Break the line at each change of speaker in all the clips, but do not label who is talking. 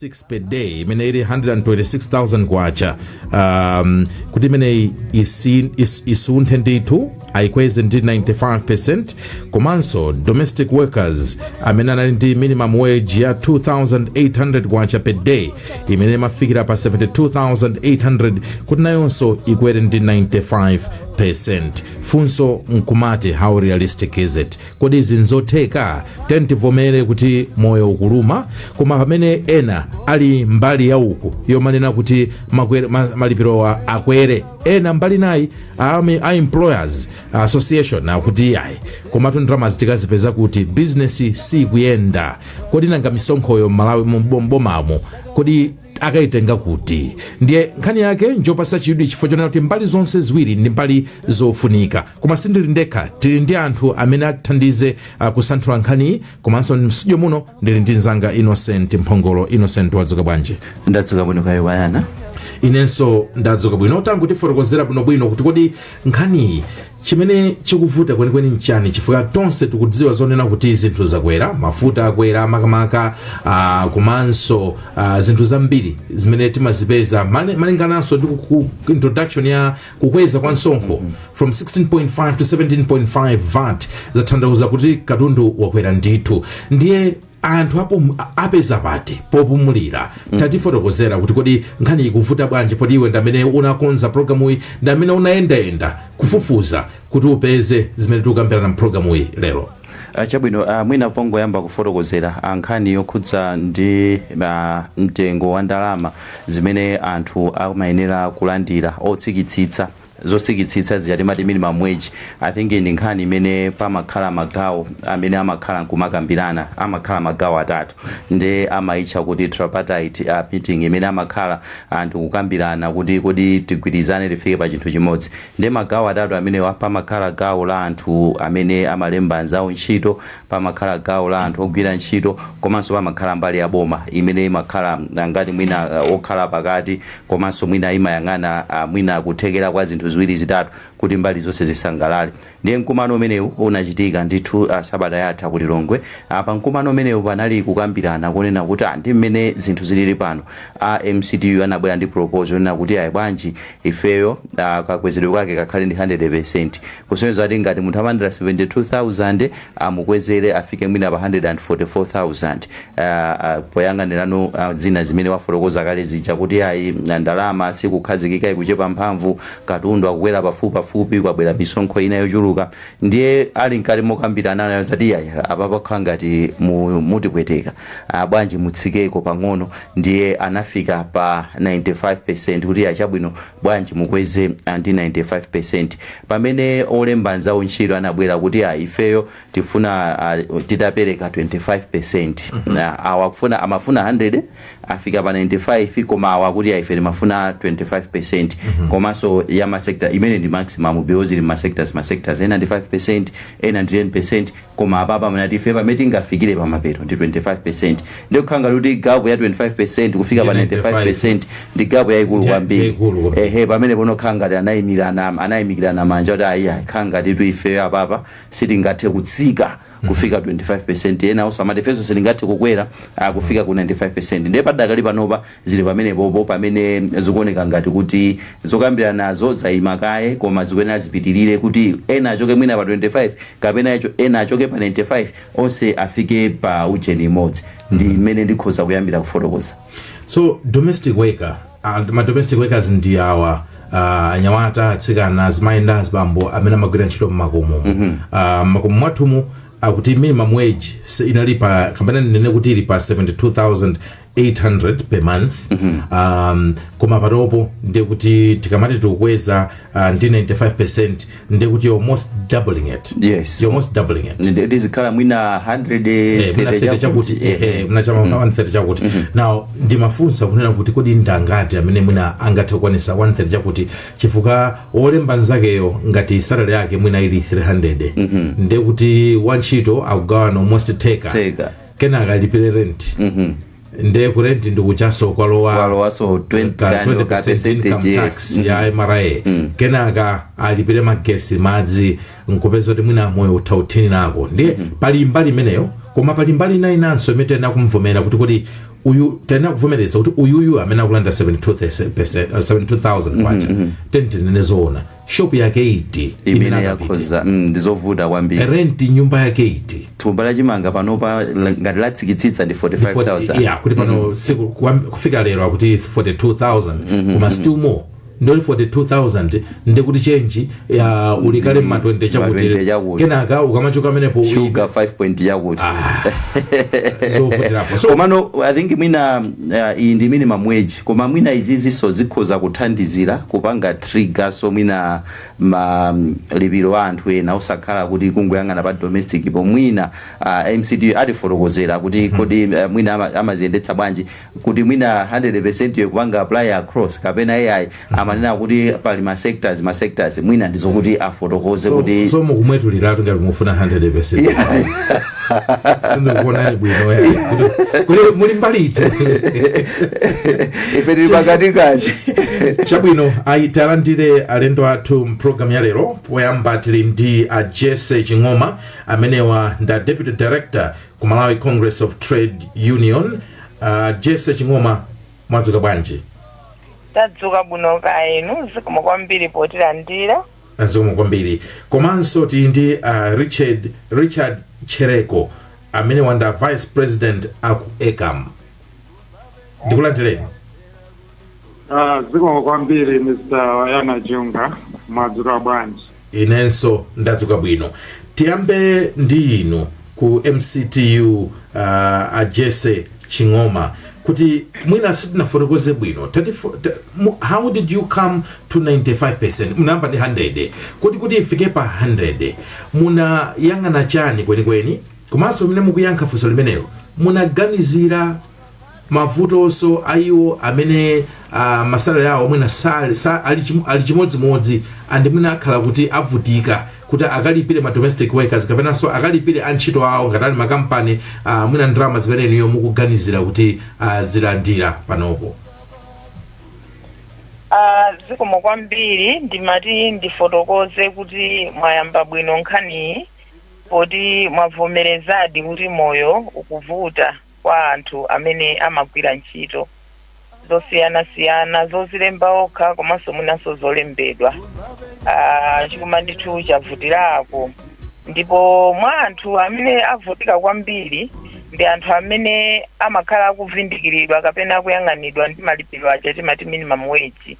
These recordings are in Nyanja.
six per day imene ili 126,000 kwacha um, kuti imeneyi isi- is- isunthe ndithu ayikweze ndi 95% komanso domestic workers amene anali ndi minimum wage ya 2800 kwacha per day imene imafikira pa 72800 kuti nayonso ikwere ndi 95% funso nkumati how realistic is it kodi izi nzotheka tiyeni tivomere kuti moyo ukuluma koma pamene ena ali mbali ya uku yomanena kuti makwere- ma- malipirowa akwere ena mbali nayi ami- a employers association akuti ayi komatu ndalama zi tikazipeza kuti bizinesi sikuyenda kodi nanga misonkhoyo m'malawi mu- m'bomamo kodi akaitenga kuti ndiye nkhani yake njopasa chidwi chifukwa chonena kuti mbali zonse ziwiri ndi mbali zofunika koma sindili ndekha tili ndi anthu amene atithandize uh, kusanthula nkhaniyi komanso mstudio muno ndili ndi mzanga innocent mphongolo innocent wadzuka bwanji ndadzuka bwino
kaya iwe Ayana inenso
ndadzuka bwino tangotifotokozera bwinobwino kuti kodi nkhaniyi Chimene chikuvuta kwenikweni nchani chifukwa tonse tikudziwa zonena kuti zinthu zakwera, mafuta akwera makamaka uh, komanso uh, zinthu zambiri zimene timazipeza mali- malingananso ndi ku- ku- introduction ya kukweza kwa msonkho from 16.5 to 17.5 vat zatanthauza kuti katundu wakwera ndithu ndiye anthu apum, a- apeza pati popumulira tatifotokozera kuti kodi nkhani ikuvuta bwanji poti iwe ndamene unakonza programuyi ndamene unayendayenda kufufuza kuti upeze zimene tikukambirana mpulogalamuyi lero Ah, chabwino ah,
mwina pongoyamba kufotokozera ah, nkhani yokhudza ndi ah, mtengo wa ndalama zimene anthu amayenera kulandira otsikitsitsa zotsikitsitsa zija timati minimum wage i think ndi nkhani imene pamakhala magawo amene amakhala nkumakambirana amakhala magawo atatu nde amaitcha kuti tripartite uh, meeting imene amakhala anthu kukambirana kuti kodi tigwirizane tifike pa chinthu chimodzi nde magawo atatu amenewa pamakhala gawo la anthu amene amalemba anzawo ntchito pamakhala gawo la anthu ogwira ntchito komanso pamakhala mbali ya boma imene imakhala ngati mwina okhala pakati komanso mwina imayang'ana mwina kuthekera kwa zinthu ziwiri zitatu kuti mbali zonse zisangalale. Ndiye mkumano umenewu unachitika ndithu sabata yatha ku Lilongwe. Pa mkumano umenewu panali kukambirana konena kuti aah ndi mmene zinthu zilili pano a MCTU anabwera ndi proposal yonena kuti ayi bwanji ifeyo kakwezedwe kake kakhale ndi 100%. Kusonyeza kuti ngati munthu amalandira 72,000 amukwezere afike mwina pa 144,000 poyang'anirano zina zimene wafotokoza kale zija kuti ayi ndalama sikukhazikika ikuchepa mphamvu, katundu akukwera pafupipafupi, kwabwera misonkho ina yochuluka ndiye ali mkati mokambirana anaona zoti iyayi apa pakukhala ngati mutipweteka bwanji mutsikeko pang'ono ndiye anafika pa 95% kuti iyayi chabwino bwanji mukweze ndi 95% pamene olemba nzawo ntchito anabwera kuti a ifeyo tifuna a, titapereka 25% Awa amafuna 100 afika pa 95 koma awa kuti a ife timafuna 25% komanso ya masectors imene ndi maximum because ili masectors masectors ena ndi 5% ena ndi 10% Koma apapa amanena kuti ife pamene tingafikire pamapeto ndi 25%. Ndiye kukhala ngati kuti gap ya 25% kufika pa 95% ndi gap yaikulu kwambiri. Ehe, pamenepono kukhala ngati anayimikirana manja kuti ayi ayi kukhala ngatitu ifeyo apapa sitingathe kutsika kufika 25%. Enanso amati ifenso sitingathe kukwera ah, kufika ku 95%. Ndiye padakali panopa Zili pamenepopo pamene zikuoneka ngati kuti zokambiranazo zaima kaye koma zikuyenera zipitirire kuti ena achoke mwina pa 25 kapena ena achoke pa 95 onse afike pa ujeni imodzi. Ndi mmene ndikhoza kuyambira kufotokoza. So
domestic worker, uh, ma domestic workers ndi awa uh, anyamata, atsikana, azimayi ndi azibambo amene amagwira ntchito mmakomo. Mm -hmm. uh, mmakomo mwathumu akuti minimum wage inali pa kapena ndinene kuti ili pa 72000 800 per month um, koma panopo ndiye kuti tikamati tikukweza uh, ndi 95 ndiye kuti you're almost doubling it Yes. you're almost doubling
it
Ndiye zikhala mwina 130
chakuti eh, eh, eh,
muna cha m'ma 130 chakuti now ndimafunsa kunena kuti kodi ndangati amene mwina angathe kukwanisa 130 chakuti chifukwa wolemba nzakeyo ngati salary yake mwina ili 300 ndiye kuti wantchito akugawana almost theka Theka. kenaka alipire rent Mhm. nde ku rent ndikuchotsanso kwalowanso 20%
income yes tax
ya mra kenaka alipire magesi madzi nkupeza kuti mwina moyo utha kuthinanako ndiye pali mbali imeneyo koma pali mbali ina inanso imene tena kumvomera kuti kuti uyu tena kuvomereza kuti uyuyu amene akulandira 72000 kwacha tinene zoona shop yake iti imene akapita
akhoza mm, ndi zovuta kwambiri rent nyumba
yake iti thumba la
chimanga panopa la- ngati latsikitsitsa ndi 45000 yeah, kuti pano
siku kwa- kufika lero akuti 42000 koma still more ndi 42000 ndekuti chenji ya uli kale mma 20 chakuti. kenaka ukamachoka pamenepo shuga 5
point yakuti
zovutiraponso komano i think
mwina uh, iyi ndi minimum wage koma mwina izizinso zikhoza kuthandizira kupanga trigger so mwina ma lipiro a anthu ena osakhala kuti kungoyang'ana pa domestic po mwina uh, mcd atifotokozera kuti kodi uh, mwina ama- amaziyendetsa bwanji kuti mwina 100% yokupanga apply across kapena iyayi amanena kuti pali ma sectors ma sectors mwina ndizokuti afotokoze so, kuti so mukumwetuliratu
ngati mufuna 100 sindikuonani bwino ya. Kuti- kuti muli mbali
iti ife tili pakati kati chabwino
ayi talandire alendo athu mu pulogalamu ya lero poyamba tili ndi a jese ching'oma amenewa ndi a deputy director ku malawi congress of trade union uh, jese ching'oma mwadzuka bwanji tadzuka
bwino kaya inu zikomo kwambiri potilandira zikomo
kwambiri komanso tili ndi uh, richard richard chereko amenewa ndi a vice president aku ecam ndikulandireni
Ah, zikomo kwambiri mr wayana junga mwadzuka bwanji inenso
ndadzuka bwino tiyambe ndi inu ku MCTU uh, a Jesse Ching'oma kuti mwina sitinafotokoze bwino Tati fo- ta- mu- how did you come to 95% munayamba ndi 100 kuti kuti ifike pa 100 munayang'ana chani kwenikweni komanso mmene mukuyankha funso limenelo munaganizira mavutonso a iwo amene uh, masalare awo mwina sali- sa- ali chim- ali chimodzimodzi and mwina akhala kuti avutika kuti akalipire ma domestic workers kapenanso akalipire antchito awo ngati ali makampani uh, mwina ndalama zimene inuyo mukuganizira kuti uh, zilandira
panopo Ah, zikomo kwambiri ndimati ndifotokoze kuti mwayamba bwino nkhaniyi poti mwavomerezadi kuti moyo ukuvuta kwa anthu amene amagwira ntchito zosiyanasiyana zozilemba okha komanso mwinanso zolembedwa Ah, chikuma ndithu chavutirako ndipo mwa anthu amene avutika kwambiri ndi anthu amene amakhala akuvindikiridwa kapena akuyang'anidwa ndi malipiro aja timati minimum wage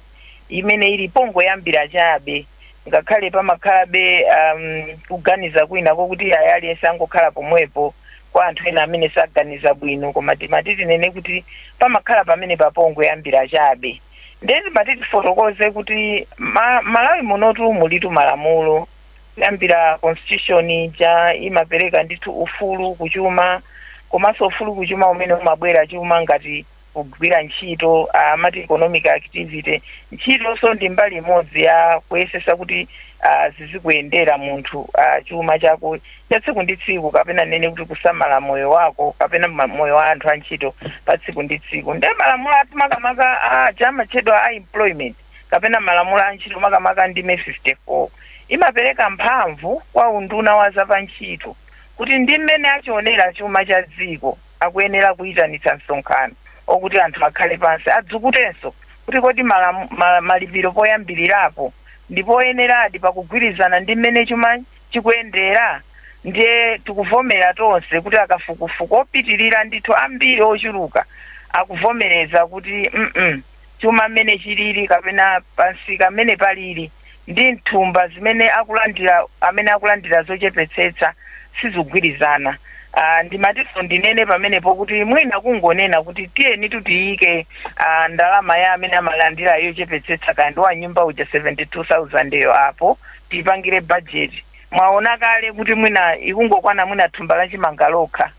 imene ili pongoyambira chabe ngakhale pamakhalabe um, kuganiza kwina kokuti ayi aliyense angokhala pomwepo kwa anthu ena amene saganiza bwino koma timati tinene kuti pamakhala pamene pa pongoyambira chabe ndiye timati tifotokoze kuti ma, malawi munotu mulitu malamulo kuyambira constitution ija imapereka ndithu ufulu kuchuma komanso ufulu kuchuma umene umabwera chuma ngati kugwira ntchito amati economic activity ntchitonso ndi mbali imodzi ya kuyesesa kuti ah, zizikuyendera munthu ah, chuma chako cha tsiku ndi tsiku kapena ndinene kuti kusamala moyo wako kapena ma- moyo wa anthu a ntchito pa tsiku ndi tsiku nde malamulo athu makamaka ah, aja amatchedwa a employment kapena malamulo a ntchito makamaka ndime 54 imapereka mphamvu kwa unduna wa zapantchito kuti ndi mmene achionera chuma cha dziko akuyenera kuitanitsa msonkhano okuti anthu akhale pansi adzukutenso kuti kodi malamu, ma, malipiro poyambirirapo ndi oyeneradi pakugwirizana ndi mmene chuma chikuyendera ndiye tikuvomera tonse kuti akafukufuku opitirira ndithu ambiri ochuluka akuvomereza kuti mm -mm. chuma mmene chilili kapena pa msika mmene palili ndi mthumba zimene akulandira amene akulandira zochepetsetsa sizikugwirizana. Uh, ndimatinso ndinene pamenepo kuti mwina kungonena kuti tiyenitu tiyike uh, ndalama ya amene amalandira yochepetsetsa kaya ndi wa nyumba uja 72000 yo apo tipangire bajeti mwaona kale kuti mwina ikungokwana mwina thumba la chimanga lokha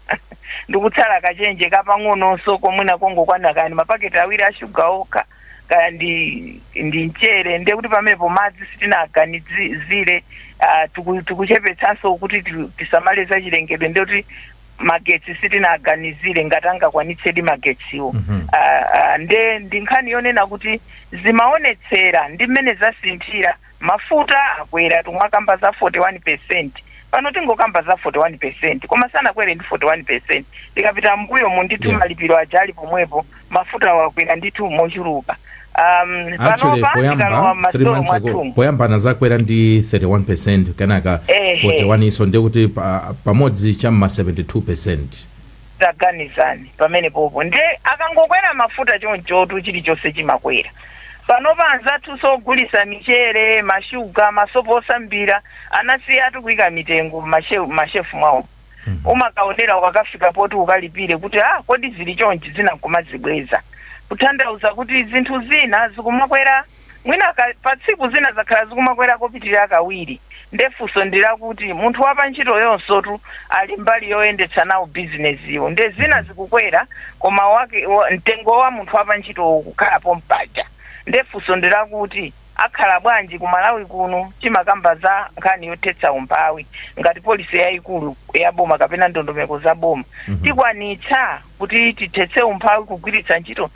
ndikutsala kachenje kapang'ononso komwina kongokwana kaya ndi mapaketi awiri a shuga okha kaya ndi ndi mchere ndiye kuti pamenepo madzi sitinaganizire ah, tiku- tikuchepetsanso kuti ti- tisamale za chilengedwe ndiye kuti magetsi sitinaganizire ngati angakwanitsedi magetsiwo Mhm. Ah, ah, nde ndi nkhani yonena kuti zimaonetsera ndi mmene zasinthira Mafuta akwera tikumakamba za 41% pano tingokamba za 41% koma sanakwere ndi 41% tikapita mmbuyomu ndithu Yeah. malipiro aja ali pomwepo mafuta wakwera ndithu mochuluka um,
actually poyamba anazakwera ndi 31% kenaka Ehe. 41 iso ndikuti pa, pamodzi chamma 72%
Taganizani pamenepopo nde akangokwera mafuta chonchotu chilichonse chimakwera. Panopa anzathunso ogulisa michere, ma shuga, ma sopo osambira anasiyatu kuika mitengo mma shelf mwawo. Umakaonera ukakafika poti ukalipire kuti ah kodi zili chonchi zina nkumazibweza. Kutanthauza kuti zinthu zina zikumakwera. mwina ka, pa tsiku zina zakhala zikumakwera kopitirira kawiri, nde funso ndi lakuti munthu wa pa ntchitoyunsotu ali mbali yoyendetsa nawo bizinesiyo nde zina zikukwera koma wake, wa, mtengo wa munthu wa pa ntchito uwo ukukhala pompaja nde funso ndi lakuti akhala bwanji ku Malawi kuno timakamba za nkhani yothetsa umphawi ngati policy yayikulu ya boma kapena ndondomeko za boma tikwanitsa Kuti tithetse umphawi kugwiritsa ntchito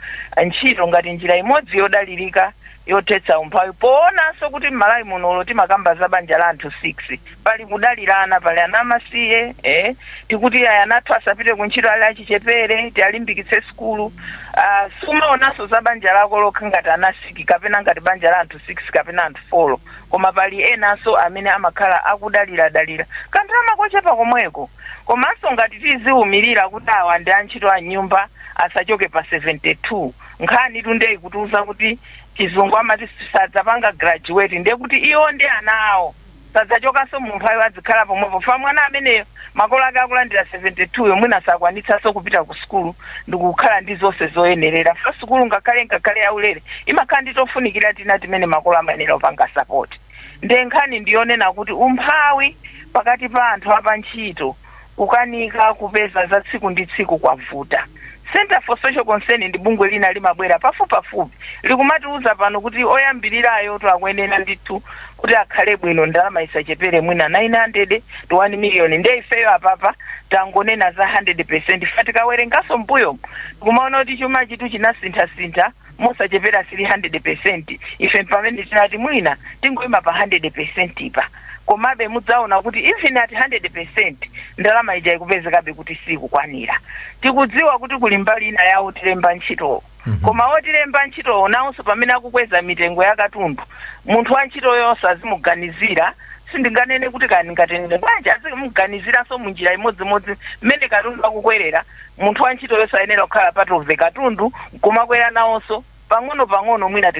ntchito ngati njira imodzi yodalirika yothetsa umphawi poonanso kuti m'Malawi muno olo timakamba za banja la anthu 6 pali kudalirana pali ana amasiye eh, tikuti aya ana athu asapite ku ntchito ali achichepere tialimbikitse sukulu ah, sumaonanso za banja lako lokha ngati ana 6 kapena ngati banja la anthu 6 kapena anthu 4 koma pali enanso amene amakhala akudaliradalira kanthu kako kochepa komweko komanso ngati tiziumirira kuti awa ndi antchito a m'nyumba asachoke pa 72 nkhanitu nde ikutiuza kuti chizungu amati sadzapanga graduate ndiye kuti iwo ndi ana awo sadzachokanso mu umphawi adzikhala pomwepo fa mwana ameneyo makolo ake akulandira 72 yomwe mwina sakwanitsanso kupita ku sukulu ndikukhala ndi zonse zoyenerera fa sukulu ngakhale ngakhale yaulere imakhala ndi tofunikira tina timene makolo amayenera kupanga sapoti nde nkhani ndi yonena kuti umphawi pakati pa anthu apa ntchito kukanika kupeza za tsiku ndi tsiku kwavuta center for social concern ndi bungwe lina limabwera pafupipafupi likumatiuza pano kuti oyambirirayo to akuyenera ndithu kuti akhale bwino ndalama isachepere mwina 900 to 1 million nde ifeyo apapa tangonena za 100 percent fa tikawerenganso mbuyo kumaona kuti chuma chitu chinasinthasintha mosachepera 300 percent ife mpamene tinati mwina tingoima pa 100 percent pa komabe mudzaona kuti even at 100 percent ndalama ija ikupezekabe kuti sikukwanira tikudziwa kuti kuli mbali ina ya otilemba ntchitowo koma otilemba ntchitowo nawonso pamene akukweza mitengo ya katundu munthu wa ntchito yonse azimuganizira sindinganene kuti kani ndingatenene bwanji azimuganiziranso munjira imodzimodzi mmene katundu akukwerera Munthu wa ntchito yonse ayenera kukhala part of the katundu kumakwera nawonso pang'ono pang'ono mwina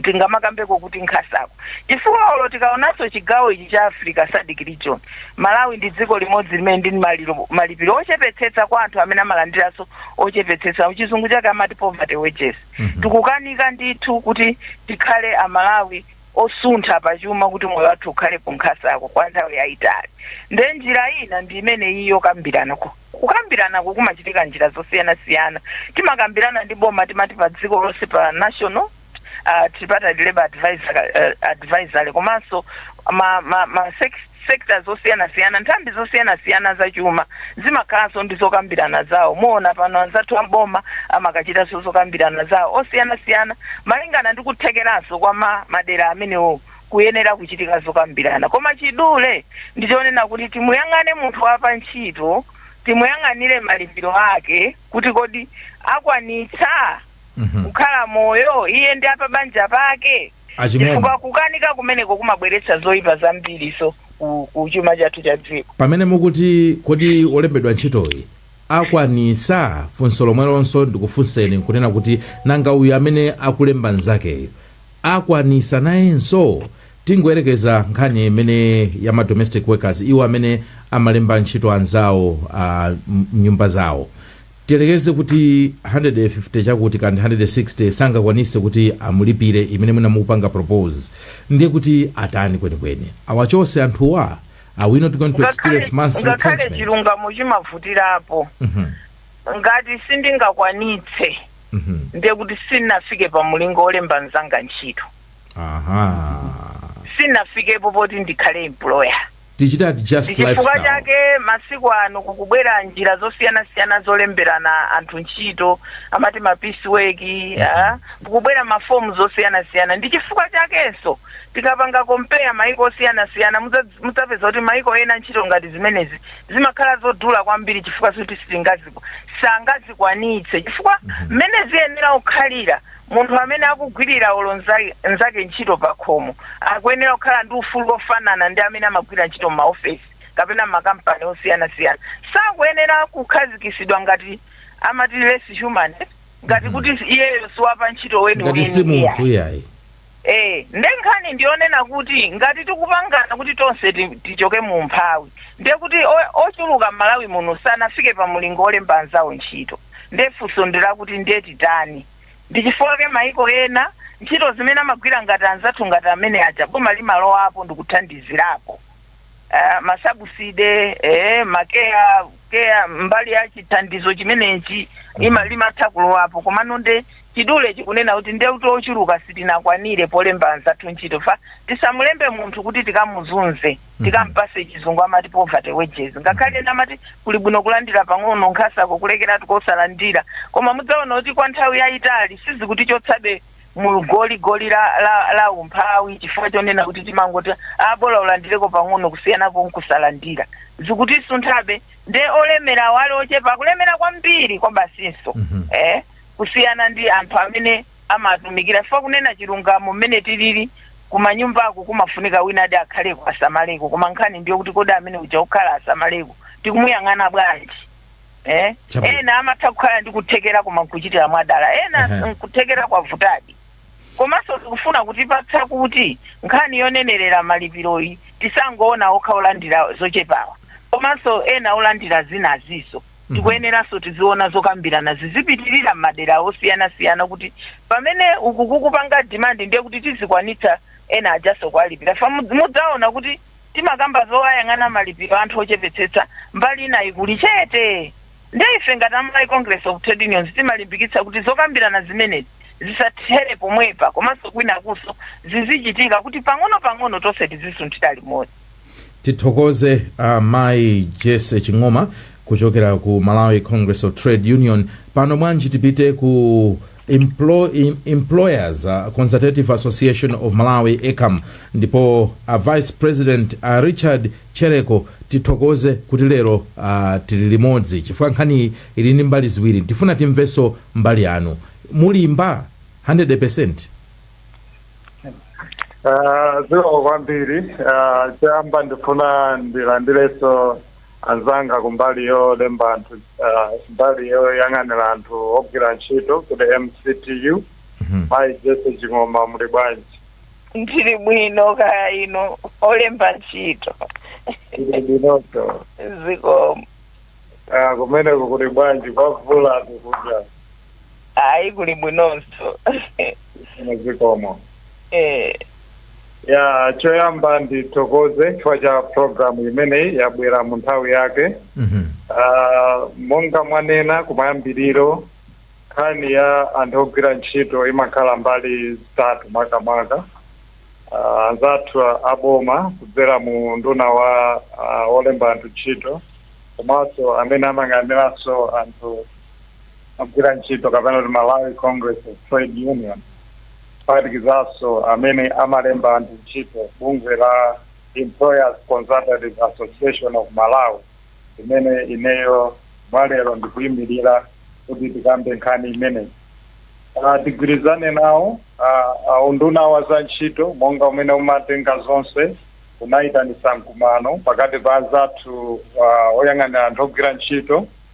tingamakambeko kuti nkhasako chifukwa olo tikaonanso chigawo ichi cha africa sadc region malawi ndi dziko limodzi limene ndi malipiro ochepetsetsa kwa anthu amene amalandiranso ochepetsetsa pachizungu chake amati poverty wages tikukanika ndithu kuti tikhale amalawi osuntha pa chuma kuti moyo wathu ukhale ku nkhasako kwa nthawi yayitali nde njira ina ndi imene iyi yokambirana ku- kukambiranako kumachitika njira zosiyanasiyana timakambirana ndi boma timati pa dziko lonse pa national uh, tripartite labor advisor, uh, advisory komanso ma, ma, ma sex- sekita zosiyanasiyana, nthambi zosiyanasiyana za chuma zimakhalanso ndi zokambirana zawo. Muona pano anzathu a m'boma amakachitanso zokambirana zawo osiyanasiyana malingana ndi kuthekeranso kwa ma madera amenewo kuyenera kuchitika zokambirana. Koma chidule ndi chonena kuti timuyang'ane munthu wa pa ntchito, timuyang'anire malipiro ake kuti kodi akwanitsa Mhm. kukhala moyo iye ndi apa banja pake. Achimwene. chifukwa kukanika kumeneko kumabweretsa zoyipa zambiriso ku, ku chuma chathu cha dziko pamene mukuti
kodi olembedwa ntchitoyi akwanisa funso lomwelonso ndikufunseni nkunena kuti nanga uyu amene akulemba nzakeyo akwanisa nayenso tingoyerekeza nkhani imene ya ma domestic workers iwo amene amalemba ntchito anzawo ah, m- mnyumba zawo Tiyerekeze kuti 150 chakuti kandi 160 sangakwanise kuti amulipire imene mwina mukupanga propose ndiye kuti atani kwenikweni? Awachose anthuwa? Are we not going to experience ngakhale mass ngakhale retrenchment? chilungamo
chimavutirapo Mhm, ngati sindingakwanitse mhm. ndiye kuti sinafike pa mulingo olemba mzanga ntchito Aha.
sinafikepo
poti ndikhale employer
Tichite adjust Ndichifukwa lifestyle. chake masiku
ano kukubwera njira zosiyanasiyana zolemberana anthu ntchito amati ma piece work ah, kukubwera mafomu zosiyanasiyana ndi chifukwa chakenso tikapanga compare maiko osiyanasiyana mudza- mudzapeza kuti maiko ena ntchito ngati zimenezi zimakhala zodula kwambiri chifukwa zoti sitingaziku sangazikwanitse chifukwa mmene ziyenera kukhalira Munthu amene akugwirira olo mnzake ntchito pakhomo akuyenera kukhala ndi ufulu wofanana ndi amene amagwira ntchito m'maofesi kapena m'makampani osiyanasiyana. Sakuyenera kukhazikitsidwa ngati amati less human ngati kuti iyeyo si wapantchito Ngati si weniweni munthu iyayi. iyayi.
Eee
nde nkhani ndiyonena kuti ngati tikupangana kuti tonse ti tichoke mu umphawi ndiye kuti o ochuluka m'Malawi muno sanafike pa mulingo olemba anzawo ntchito nde funso ndilakuti nde titani ndichifukwake maiko ena ntchito zimene amagwira ngati anzathu ngati amene aja boma limalowapo ndikuthandizirapo aah ma subsidy ee ma care care mbali ya chithandizo chimenechi ima limatha kulowapo komano nde Chidule chikunena kuti ndiye kuti ochuluka sitinakwanire polemba anzathu ntchito fa tisamulembe munthu kuti tikamuzunze tikampase chizungu amati poverty wages ngakhale ena amati kuli bwino kulandira pang'ono nkhasako kulekeratu kosalandira koma mudzaona kuti kwa nthawi yayitali sizikutichotsabe mu goli goli la, la, la umphawi chifukwa chonena kuti timangoti abola ulandireko pang'ono kusiyanapo nkusalandira zikutisunthabe nde olemerawa ali ochepa akulemera kwambiri kwabasinso eh kusiyana ndi anthu amene amatumikira chifukwa kunena chilungamo mmene tilili kumanyumbako kumafunika winadi akhaleko asamaleko koma nkhani ndiyokuti kodi amene uja kukhala asamaleko tikumuyang'ana bwanji eh? Chabwino. ena amatha kukhala ndi kuthekera koma nkuchitira mwadala ena Ehe. nkuthekera kwavutadi komanso zikufuna kutipatsa kuti nkhani yonenerera malipiroyi tisangoona okha olandira zochepawa komanso ena olandira zinaziso tikuyeneranso tiziona zokambirana zizipitirira m'madera osiyanasiyana kuti pamene uku kukupanga demand ndiye kuti tizikwanitsa ena ajaso kuwalipira fa mudz- mudzaona kuti timakamba zoyang'ana malipiro anthu ochepetsetsa mbali inayi kuli chete nde ife ngati a malawi congress of trade unions timalimbikitsa kuti zokambirana zimenezi zisathere pomwepa komanso kwinakunso zizichitika kuti pang'ono pang'ono tonse tizisunthira limodzi
tithokoze a mai jesse ching'oma kuchokera ku malawi congress of trade union pano mwanji tipite ku Emplo- em- employers uh, consultative association of malawi ecam ndipo a vice president a richard chereko tithokoze kuti lero uh, tili limodzi chifukwa nkhaniyi ili ndi mbali ziwiri tifuna timvenso mbali yanu mulimba 100
Ah, zikomo kwambiri Ah, choyamba ndifuna ndilandirenso anzanga kumbali yolemba anthu ah, mbali yoyang'anira anthu ogwira ntchito ku mctu mayi jesse ching'oma muli bwanji
ndili bwino kaya inu olemba ntchito ndili
bwinotu
zikomo Ah,
kumeneko kuli bwanji kwa mvula kukuja
ayi kuli bwinonso
Ine zikomo Eh, ya choyamba ndithokoze chifukwa cha programu imeneyi yabwera mu nthawi yake Mhm. Ah, monga mwanena kumayambiriro nkhani ya anthu ogwira ntchito imakhala mbali zitatu makamaka Ah, anzathu aboma kudzera mu unduna wa ah, olemba anthu ntchito komanso amene amayang'aniranso anthu ogwira ntchito kapena kuti malawi congress of trade union kuphatikizaso amene amalemba anthu ntchito bungwe la employers consultative association of malawi limene ineyo mwalero ndikuyimirira kuti tikambe nkhani imeneyi Ah, tigwirizane nawo ah, ah, unduna wa za ntchito monga umene umatenga zonse unayitanisa mkumano pakati pa anzathu ah, oyang'anira anthu ogwira ntchito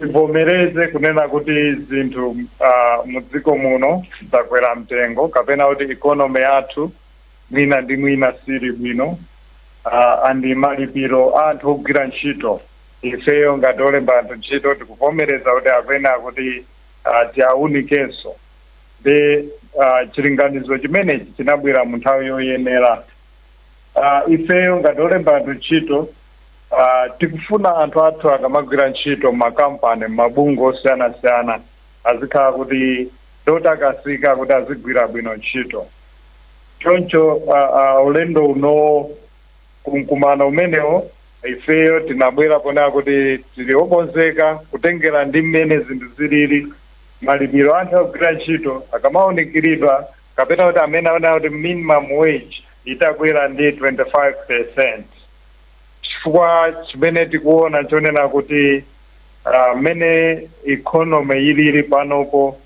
tivomereze kunena kuti zinthu uh, mudziko muno zakwera mtengo kapena kuti economy yathu mwina ndi mwina siili bwino uh, and malipiro a anthu ogwira ntchito ifeyo ngati olemba anthu ntchito tikuvomereza kuti akuyenera kuti uh, tiawunikenso ndiye uh, chilinganizo chimenechi chinabwera mu nthawi yoyenera uh, ifeyo ngati olemba anthu ntchito Ah, tikufuna anthu athu akamagwira ntchito m'makampani mabungwe osiyanasiyana azikhala kuti ndi otakasika kuti azigwira bwino ntchito choncho ah, ah, ulendo unowo kumkumano umenewo ifeyo tinabwera ponena kuti tili okonzeka kutengera ndi mmene zinthu zilili malipiro anthu akugwira ntchito akamaunikiridwa kapena kuti amene amanena kuti minimum wage atakwera ndi 25 percent chifukwa chimene tikuona chonena kuti ah, mmene economy ilili panopo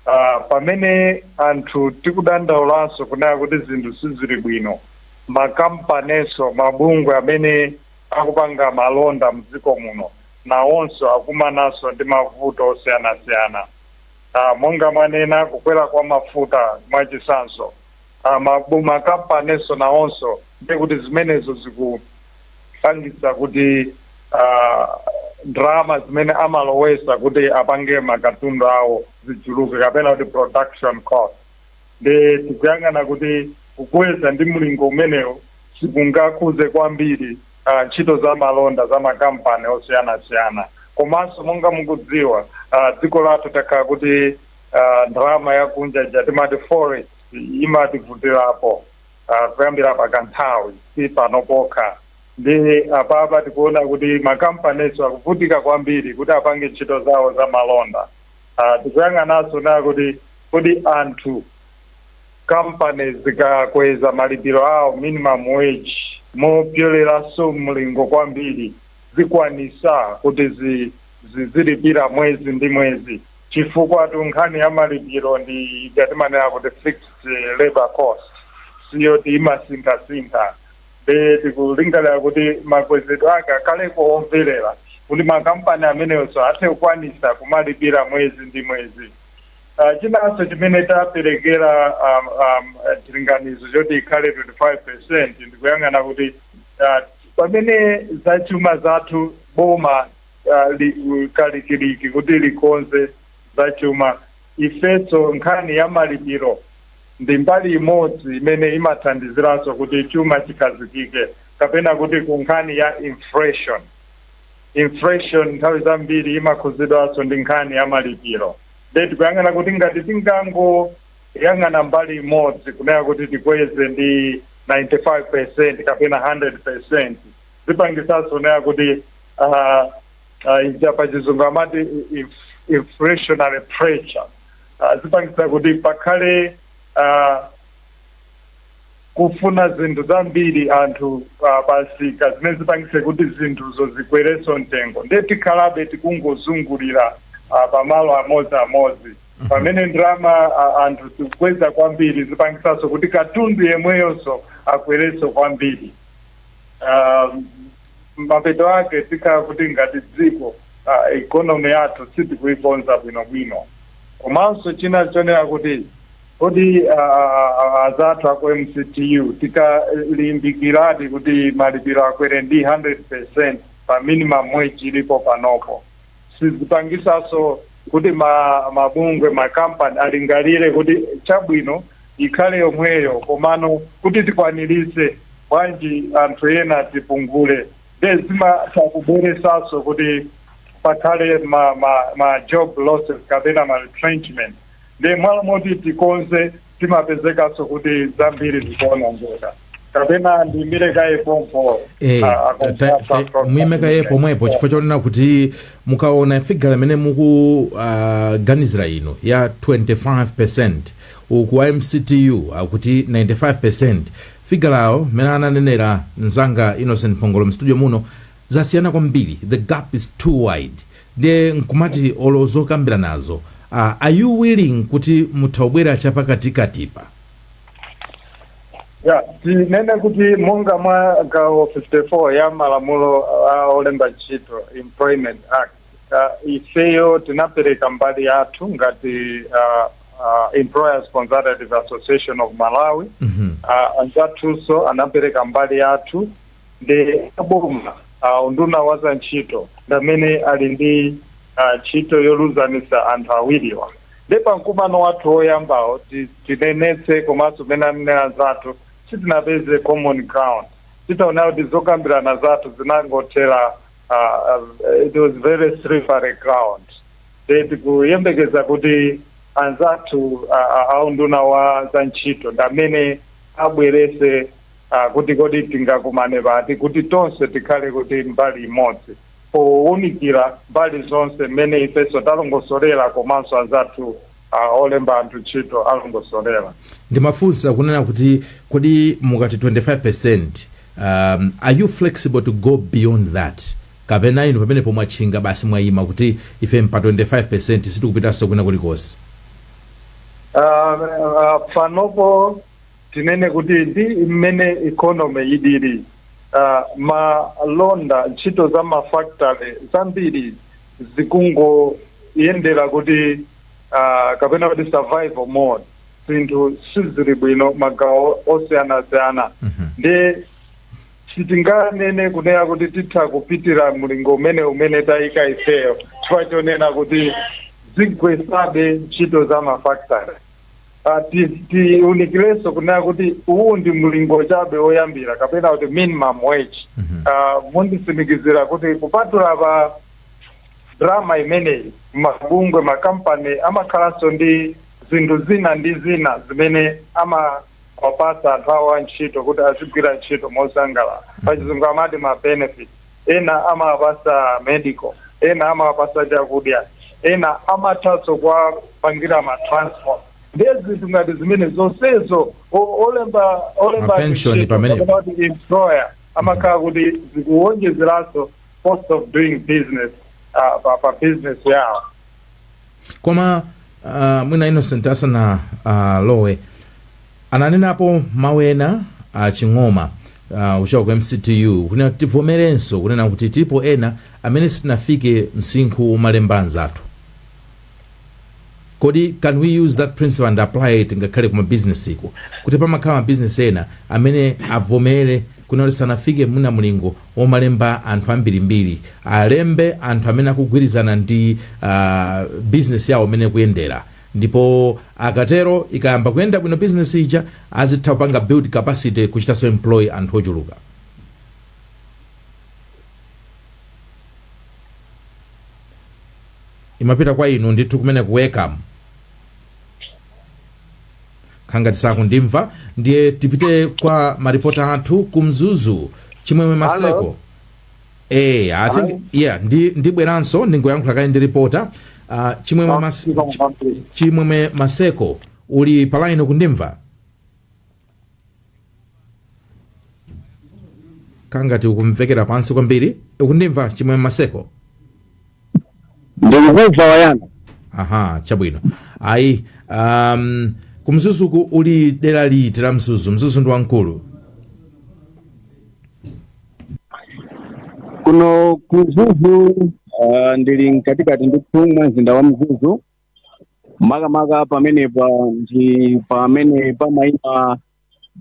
ah, pamene anthu tikudandaulanso kunena kuti zinthu sizili bwino makampaninso mabungwe amene akupanga malonda mdziko muno nawonso akumananso ndi mavuto osiyanasiyana Ah, monga mwanena kukwera kwa mafuta mwachitsanzo a makampaninso nawonso ndiye kuti zimenezo zikupangitsa kuti a ndalama zimene amalowesa kuti apange makatundu awo zichuluke kapena kuti production cost nde tikuyang'ana kuti kukweza ndi mlingo umenewo sikungakhuze kwambiri ah, ntchito za malonda za makampani osiyanasiyana komanso monga mukudziwa ah, dziko lathu takhala kuti ah, ndalama yakunja ija timati forex imativutirapo ah, kuyambira pakanthawi si pano pokha ndiye apapa tikuona kuti makampaninso akuvutika kwambiri kuti apange ntchito zawo za malonda Ah, tikuyang'ananso kunena kuti kodi anthu companies zikakweza malipiro awo minimum wage mopyoleranso mlingo kwambiri zikwanitsa kuti zi- zi- zilipira mwezi ndi mwezi Chifukwatu nkhani ya malipiro ndi ija timanena kuti fixed labour cost, si yoti imasinthasintha. Nde tikulingalira kuti makwezedwe ake akhaleko omverera kuti makampani amenewonso athe kukwanitsa kumalipira mwezi ndi mwezi. Chinanso chimene taperekera chilinganizo choti ikhale 25 percent ndi kuyang'ana kuti pamene zachuma zathu, boma, ah, li- kalikiliki kuti likonze za chuma ifenso nkhani ya malipiro ndi mbali imodzi imene imathandiziranso kuti chuma chikhazikike kapena kuti ku nkhani ya inflation inflation nthawi zambiri imakhudzidwanso ndi nkhani ya malipiro nde tikuyang'ana kuti ngati tingangoyang'ana mbali imodzi kunena kuti tikweze ndi 95 percent kapena 100 percent zipangisanso nena kuti ah, ah, ija pa chizungu amati inf- inflationary pressure Ah, zipangisa kuti pakhale ah, kufuna zinthu zambiri anthu ah, pamsika zimene zipangise kuti zinthuzo zikwerenso mtengo ndiye tikhalabe tikungozungulira ah, pamalo amodzi amodzi pamene ndalama ah, anthu tikukweza kwambiri zipangisanso kuti katundu yemweyonso akwerenso kwambiri um, mapeto ake tikhala kuti ngati dziko uh, economy yathu sitikuikonza bwinobwino komanso china chonena kuti kodi uh, azathu aku mctu tikalimbikiradi kuti malipiro akwere ndi 100% pa minimum wage ilipo panopo sizipangisaso kuti ma mabungwe ma company alingalire kuti chabwino ikhale yomweyo komano kuti tikwaniritse bwanji anthu ena tipungule nde zimatha kubweresaso kuti pakhale ma, ma, ma job losses kapena ma retrenchment nde mmalo moti tikonze zimapezekanso kuti zambiri zikuonongeka kapena ndiyimire kaye pompo Eh, a- a- ta- ta- a- ta- muime
kaye pomwepo chifukwa chonena kuti mukaona figure imene mukuganizira inu ya 25% uku a mctu akuti 95% figure awo mmene ananenera mzanga innocent phongolo mstudio muno Zasiyana kwambiri the gap is too wide ndiye nkumati olo zokambiranazo aah are you willing kuti mutha kubwera chapakatikatipa?
Yeah, tinene kuti monga mwa gawo 54 ya malamulo a olemba ntchito, Employment Act, uh, ifeyo tinapereka mbali yathu ngati uh, uh, Employers Consultative Association of Malawi mm -hmm. uh, anzathunso anapereka mbali yathu nde aboma ah, unduna wa za ntchito ndamene ali ndi ah, ntchito yoluzanisa anthu awiriwa nde pa mkumano wathu woyambawo ti- tinenetse komanso mene anenera anzathu sitinapeze common ground titaona kuti zokambirana zathu zinangothera ah, ah, it was very slippery ground nde tikuyembekeza kuti anzathu ah, ah, a unduna wa za ntchito ndamene abwerese a, kuti kodi tingakumane pati kuti tonse tikhale kuti mbali imodzi pounikira mbali zonse mmene ifenso talongosolera komanso anzathu a, olemba anthu ntchito alongosolera. ndimafunsa
kunena kuti kodi mukati 25% um, are you flexible to go beyond that kapena inu pamenepo mwatchinga basi mwayima kuti ife mpa 25% sitikupitanso kwina kulikonse Uh,
uh, panopo Tinene kuti ndi mmene economy ilili, malonda, ntchito za ma factory zambiri zikungoyendera kuti kapena kuti survival mode, zinthu sizili bwino magawo osiyanasiyana ndiye sitinganene kunena kuti titha kupitira mlingo umene umene taika ifeyo chifukwa chonena kuti zigwesabe ntchito za ma factory. Ah, ti- tiunikilenso kunena kuti uwu ndi mlingo chabe woyambira kapena kuti minimum wage Mhm. Ah, munditsimikizira kuti kupatula pa ndalama imeneyi mabungwe makampani amakhalanso ndi zinthu zina ndi zina zimene amawapasa anthu awo a ntchito kuti azigwira ntchito mosangalala pachizungu amati ma benefit ena amawapasa medical ena amawapasa chakudya ena amathanso kuwapangira ma transport ndiye zinthu ngati zimenezo zonsezo o- olemba olemba Mapension
contribution pamenepo. kapena kuti employer
amakhala kuti zikuwonjezeranso cost of doing business ah, pa, pa business yawo
koma uh, mwina innocent asana uh, lowe ananenapo mawu ena a Ching'oma uh, ochoka ku mctu kunena kuti tivomerenso kunena kuti tilipo ena amene sitinafike msinkhu womalemba anzathu kodi can we use that principle and apply it ngakhale kuma business iko kuti pamakhala ma business ena amene avomere kunena kuti sanafike muna mlingo womalemba anthu ambirimbiri alembe anthu amene akugwirizana ndi a, bizinesi yawo mmene ikuyendera ndipo akatero ikayamba kuyenda bwino bizinesi ija azitha kupanga build capacity kuchitanso employ anthu ochuluka imapita kwa inu ndithu kumene ku ECAM kukhala ngati sakundimva ndiye tipite kwa maripota athu ku mzuzu chimwemwe maseko eh i think Hello? yeah ndi ndibweranso ndingoyankhula kaye ndi ripota uh, chimwemwe, mas, chi- chimwemwe maseko uli palaini ukundimva ngati ukumvekera pansi kwambiri ukundimva chimwemwe
maseko ndikukumva wayanga aha
chabwino ayi um, ku mzuzuku uli dera liti la mzuzu mzuzu ndi
wamkulu kuno ku mzuzu ah, ndili mkatikati ndithu mwa mzinda wa mzuzu makamaka pamenepa ndi pamene pamayima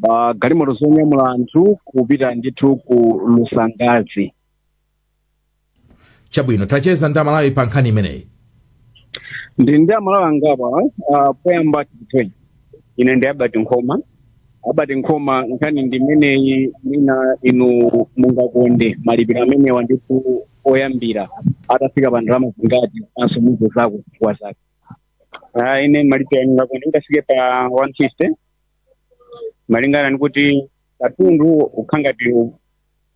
magalimoto zonyamula anthu kupita ndithu ku lusangazi
chabwino tacheza ndi amalawi pa nkhani
imeneyi ndi ndi amalawi angapo uh, poyamba ndithu ine ndi abati nkhoma Albert Nkhoma, nkhani ndi imeneyi mwina inu mungakonde malipiro amenewa ndithu oyambirira atafika pa ndalama zingati komanso mutiuzeko zifukwa zake Ah, ine malipiro ndingakonde atafika pa 150 malingana ndikuti katundu ukukhala ngati u-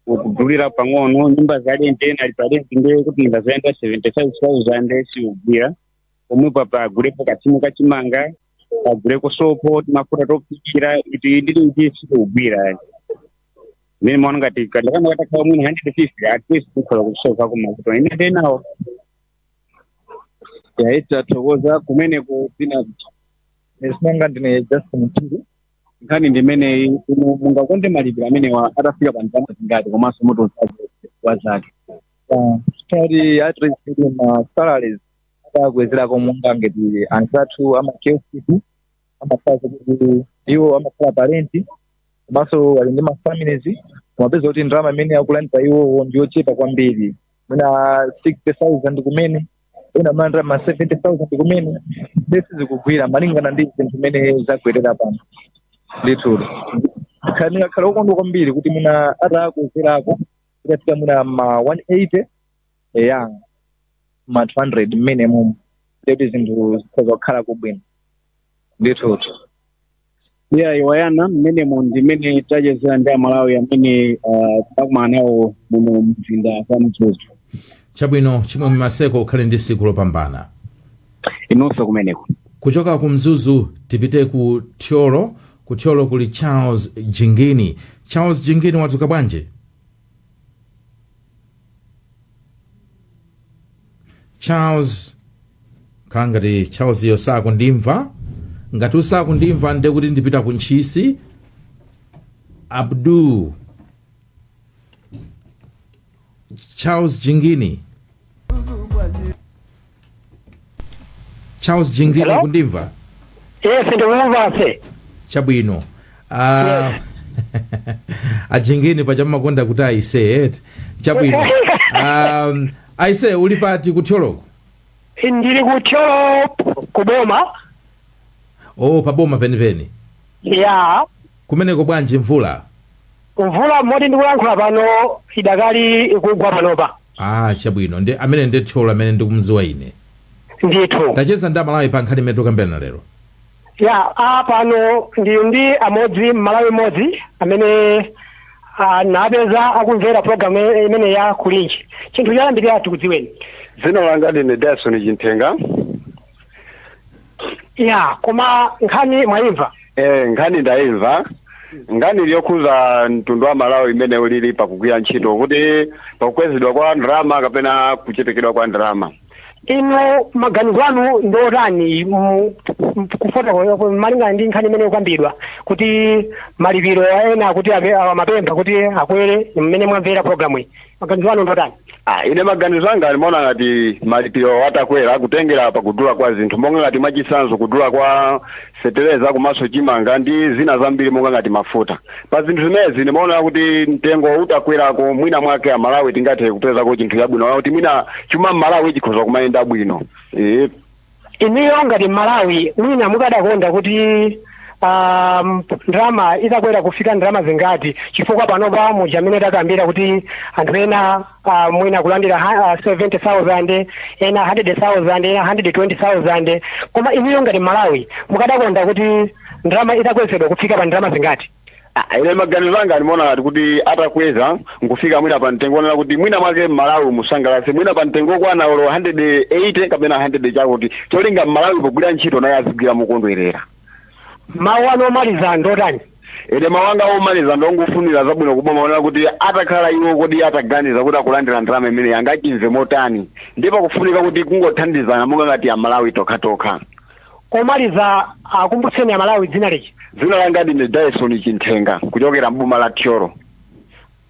ukudulira pang'ono nyumba za lente ena ali pa lente ndiye kuti ndalama ya 75000 siugwira pomwepapa agulepo kathumba ka chimanga aguleko sopo timafuta tophikira eti ndiye sikugwira mmene ndimaonera ngati kandalama katakhala mwina hundred fifty at least kukhala kusokonkera kumafuta ine nde inayo yayi tathokoza kumene kupina esinanga ndine justin mtiri nkhani ndimeneyi inu mungakonde malipiro amenewa atafika pa ndalama zingati komanso zifukwa zake
tali atresili ma salaries atakwezedwako monga ngati anzathu amakioskiku amakhala kuti iwo amakhala pa lenti komanso ali ndi mafamilies umapeza kuti ndalama imene akulandira iwowo ndi yochepa kwambiri mwina 60000 kumene ena amalandira ma 70000 kumene nde sizikugwira malingana ndi zinthu mmene zakwerera pano ndithu ndingakhale okondwa kwambiri kuti mwina atakwezerako itafika mwina ma 180 eya ma 200 minimum nde kuti zinthu zikhoza kukhalako bwino ndithutu ya
Iwalani mmenemo ndimene tachezera ndi amalawi amene uh, takumana nawo muno mumzinda wa mzuzu
chabwino chimwemwe maseko ukhale ndi tsiku lopambana
inunso kumeneko kuchoka ku
mzuzu tipite ku thyolo ku thyolo kuli charles jingini charles jingini wadzuka bwanji charles kukhala ngati charlesyo sakundimva ngati sakundimva nde kuti ndipita ku ntchisi abdul charles jingini charles jingini Hello? ukundimva
yes ndikumva aise
chabwino Ah, ajingini paja mmakonda kuti aise eti chabwino um, aise uli pati kuthyoloko
ndili kuthyolo kuboma
oh paboma penipeni ya Kumeneko bwanji mvula?
Mvula moti ndikulankhula pano idakali ikugwa panopa. Aaa chabwino ndi
amene ndi Thyolo amene ndikumdziwa ine. Ndithu.
Tachezani ndi amalawi
pa nkhani imene tikukambirana lero. Ya,
apa pano ndili ndi amodzi mmalawi mmodzi amene ndampeza akumvera program imeneyi ya kulinji chinthu choyambirira tikudziweni. Dzina langa
ndine Dyson Chinthenga
ya koma nkhani mwayimva Eh, nkhani
ndayimva nkhani ili yokhuza mtundu wa malawi imene ulili pakugwira ntchito kuti pakukwezedwa kwa ndalama kapena kuchepekedwa kwa ndalama
inu maganizo anu ndi otani mu- mu- kufotokoza malingana ndi nkhani imene ikukambidwa kuti malipiro ena kuti ape- amapempha kuti akwere mmene mwamvera programu iyi maganizo anu ndotani Ah, ine
maganizo anga ndimaona ngati malipiro atakwera kutengera pa kudula kwa zinthu monga ngati mwachitsanzo kudula kwa fetereza komanso chimanga ndi zina zambiri monga ngati mafuta pa zinthu zimenezi ndimaona kuti mtengo utakwerako mwina mwake amalawi tingathe kupezako chinthu chabwino kuti mwina chuma mmalawi chikhoza kumayenda bwino e,
inuyo ngati mmalawi mwina mukadakonda kuti um, ndalama itakwera kufika ndalama zingati chifukwa panopa muja mmene takambira kuti anthu ena uh, mwina akulandira ha- uh, 70000 ena 100000 ena 120000 koma inuyo ngati mmalawi mukadakonda kuti ndalama itakwezedwa kufika pa ndalama zingati Ah, ine
maganizo anga ndimaona ngati kuti atakweza nkufika mwina pa mtengo onena kuti mwina mwake mmalawi mumsangalatse mwina pa mtengo okwana olo 180 kapena 100 chakuti cholinga mmalawi pogwira ntchito naye azigwira mokondwerera
mawu anu omaliza ndotani ine mawu
anga omaliza ndongofunira zabwino kuboma onena kuti atakhala iwo kodi ataganiza kuti akulandira ndalama imeneyi angachimve motani ndipo kufunika kuti kungothandizana monga ngati amalawi tokhatokha
Omaliza akumbutseni amalawi dzina lija. Dzina langa
ndine Dyson Chinthenga kuchokera m'boma la Thyolo.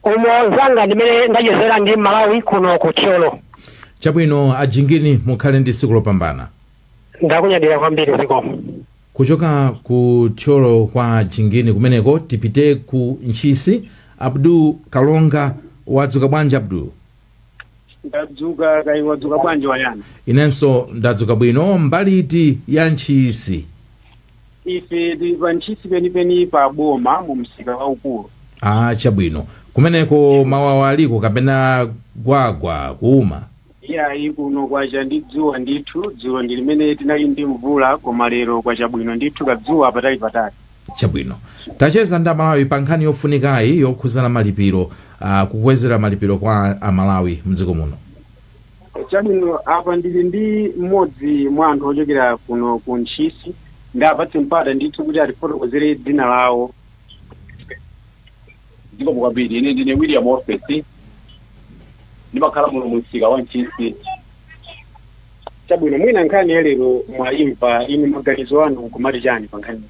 Umo
nzanga ndi mmene ndachezera ndi m'malawi kuno ku Thyolo. Chabwino a
Jingini mukhale ndi siku lopambana.
Ndakunyadira kwambiri zikomo.
Kuchoka ku Thyolo kwa a Jingini kumeneko tipite ku Ntchisi, Abdul Kalonga wadzuka bwanji Abdul?
ndadzuka kaya wadzuka bwanji wayana inenso
ndadzuka bwino mbali iti ya ntchisi ife
tili pa ntchisi penipeni pa boma mu msika waukulu ah
chabwino kumeneko mawawa aliko kapena gwagwa kuuma iyayi
kuno kwacha ndi dzuwa ndithu dzulo ndi limene tinali ndi mvula koma lero kwacha bwino ndithu kadzuwa patali patali
Chabwino. Tacheza ndi Amalawi pa nkhani yofunikayi yokhudza malipiro, ah, kukwezera malipiro kwa Amalawi mdziko muno. Chabwino,
apa ndili ndi mmodzi mwa anthu ochokera kuno ku Ntchisi, ndiwapatse mpata ndithu kuti atifotokozere dzina lawo.
Zikomo kwambiri. Ine ndine William Ofesi. Ndimakhala muno mu msika wa Ntchisi. Chabwino,
mwina nkhani ya lero mwayimva inu maganizo anu nkumati chani pa nkhani?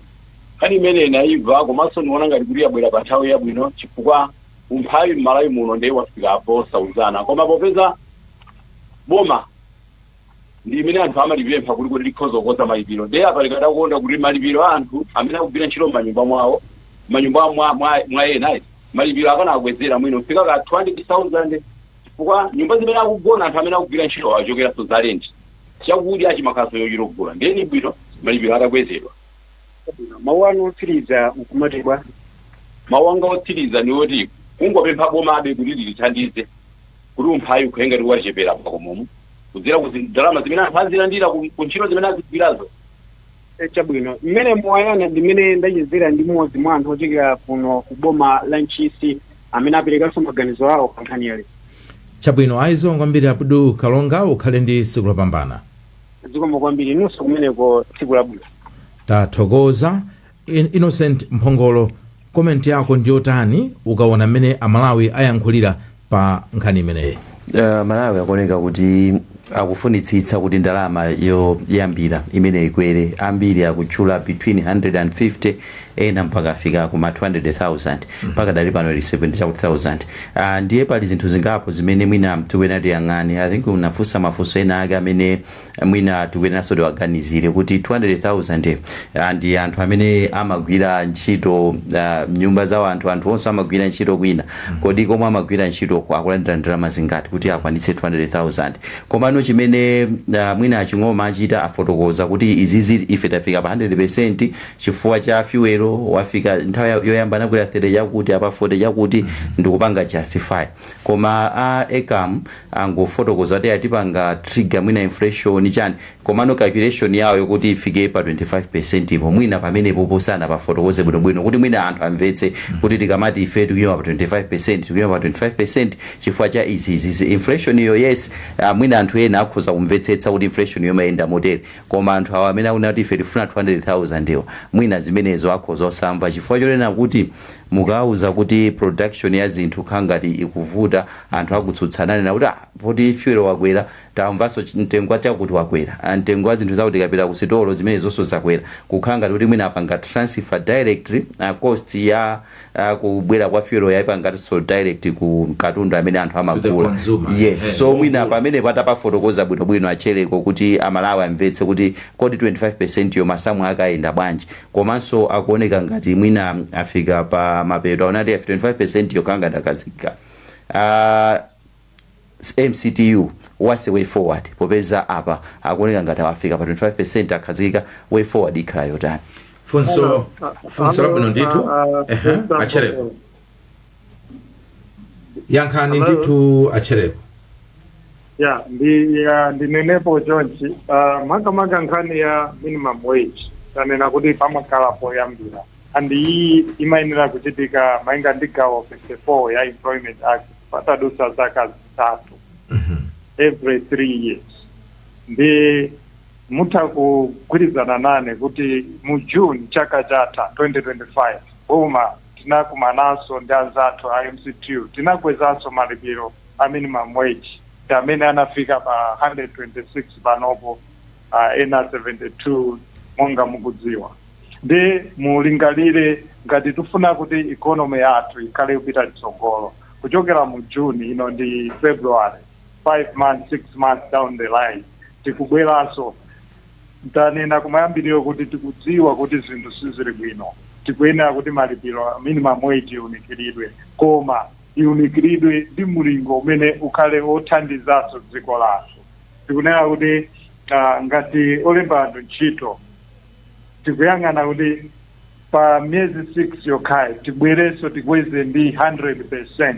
Nkhani imene
inayimva komanso ndiona ngati kuti yabwera pa nthawi yabwino chifukwa umphawi m'Malawi muno ndiye wafika posauzana. Koma popeza boma ndi imene anthu amalipempha kuti kodi likhoza kukonza malipiro ndiye apa tikadakonda kuti malipiro a anthu amene akugwira ntchito m'manyumba mwawo manyumba mwa, mwa, mwa ena eti, malipiro akanawakwezera mwino kufika ka 200,000 chifukwa nyumba zimene akugona anthu amene akugwira ntchito achokeranso za renti chakudya chimakhalanso chochita kugula ndiye ni bwino malipiro atakwezedwa
mawu anu otsiriza mukuti bwa mawu
anga otsiriza ni oti kungopempha bomabe kuti litithandize kuti umphawi ukhale ngati wachepera pakhomomo kudzera ku zi- ndalama zimene anthu azilandira ku ku ntchito zimene azigwirazo Eh, chabwino
mmene Moyana ndimene ndachezera ndi mmodzi mwa anthu ochokera kuno ku boma la ntchisi amene aperekanso maganizo awo pa nkhani iyi chabwino
zikomo kwambiri abdu kalonga ukhale ndi tsiku lopambana zikomo kwambiri
inunso kumeneko tsiku labwino tathokoza
Innocent mphongolo comment yako ndiyotani ukaona mmene amalawi ayankhulira pa nkhani imeneyi Uh, amalawi akuoneka
kuti akufunitsitsa kuti ndalama yoyambira imene ikwere ambiri akutchula between 150 ena mpaka afika kuma 200000 mpaka kudali pano ili 70 chakuti 1000 uh, ndiye pali zinthu zingapo zimene mwina tikuyenera tiyang'ane i think unafunsa mafunso ena ake amene mwina tikuyeneranso tiwaganizire kuti 200,000 ndi anthu amene amagwira ntchito ah, mnyumba za anthu anthunso amagwira ntchito kwina kodi komwe amagwira ntchitoko akulandira ndalama zingati kuti akwanitse 200,000 komano chimene ah, mwina aching'oma achita afotokoza kuti izizi ife tafika pa 100% chifukwa cha fuel wafika nthawi yoyamba anakwera 30 chakuti apa 40 chakuti ndikupanga justify koma a ECAM angofotokoza kuti itipanga trigger mwina inflation chani komano calculation yawo yokuti ifike pa 25%po mwina pamenepopo sanapafotokoze bwinobwino kuti mwina anthu amvetse kuti tikamati ife tikuyima pa 25% tikuyima pa 25% chifukwa cha izi izi izi. inflationyo yes ah, mwina anthu ena akhoza kumvetsetsa kuti inflationyo imayenda motere koma anthu awa amene akunena kuti ife tifuna 200000 yo mwina zimenezo akhoza osamva chifukwa chonena kuti Mukawauza kuti production ya zinthu kukhala ngati ikuvuta, anthu akutsutsa akunena kuti ah poti fuel wakwera, tamvanso ch mtengo wa chakuti wakwera, ah mtengo wa zinthu zakuti tikapita ku sitolo zimenezonso zakwera. Kukhala ngati kuti mwina apanga transfer directly ah cost ya ah kubwera kwa fuel yo aipanganso direct ku katundu amene anthu To the amagula. consumer, Yes, ehe, so mwina wogula. pamenepo atapafotokoza bwinobwino a Tchereko kuti a Malawi amvetse kuti kodi 25% yo masamu ake ayenda bwanji. komanso akuoneka ngati mwina afika pa mapeto aona kuti 25 yo akhala ngati akhazikika uh, mctu what's the way forward popeza apa akuoneka ngati afika pa 25 akhazikika way forward ikhala yotani funso
funso labwino ndithu ehe a Tchereko yankhani Hello? ndithu a Chereko ya ndi
ya ndinenepo chonchi uh, makamaka nkhani ya minimum wage tanena kuti pamakhala poyambira and iyi imayenera kuchitika malinga ndi gawo 54 ya employment act patadutsa zaka zitatu every three years ndi mutha kugwirizana nane kuti mu june chaka chatha 2025 boma tinakumananso ndi anzathu a mctu tinakwezanso malipiro a minimum wage amene anafika pa 126 panopo uh, ena 72 monga mukudziwa ndi mulingalire ngati tifuna kuti ikonomi yathu ikhale kupita mtsogolo kuchokera mu june ino ndi february 5 months 6 months down the line tikubweranso Tanena kumayambiriro kuti tikudziwa kuti zinthu sizili bwino, tikuyenera kuti malipiro a minimum wage iunikiridwe koma iunikiridwe ndi mlingo umene ukhale othandizanso dziko lathu. Tikunena kuti ngati olemba anthu ntchito tikuyang'ana kuti pa miyezi 6 yokhayi tibwerenso tikweze ndi 100%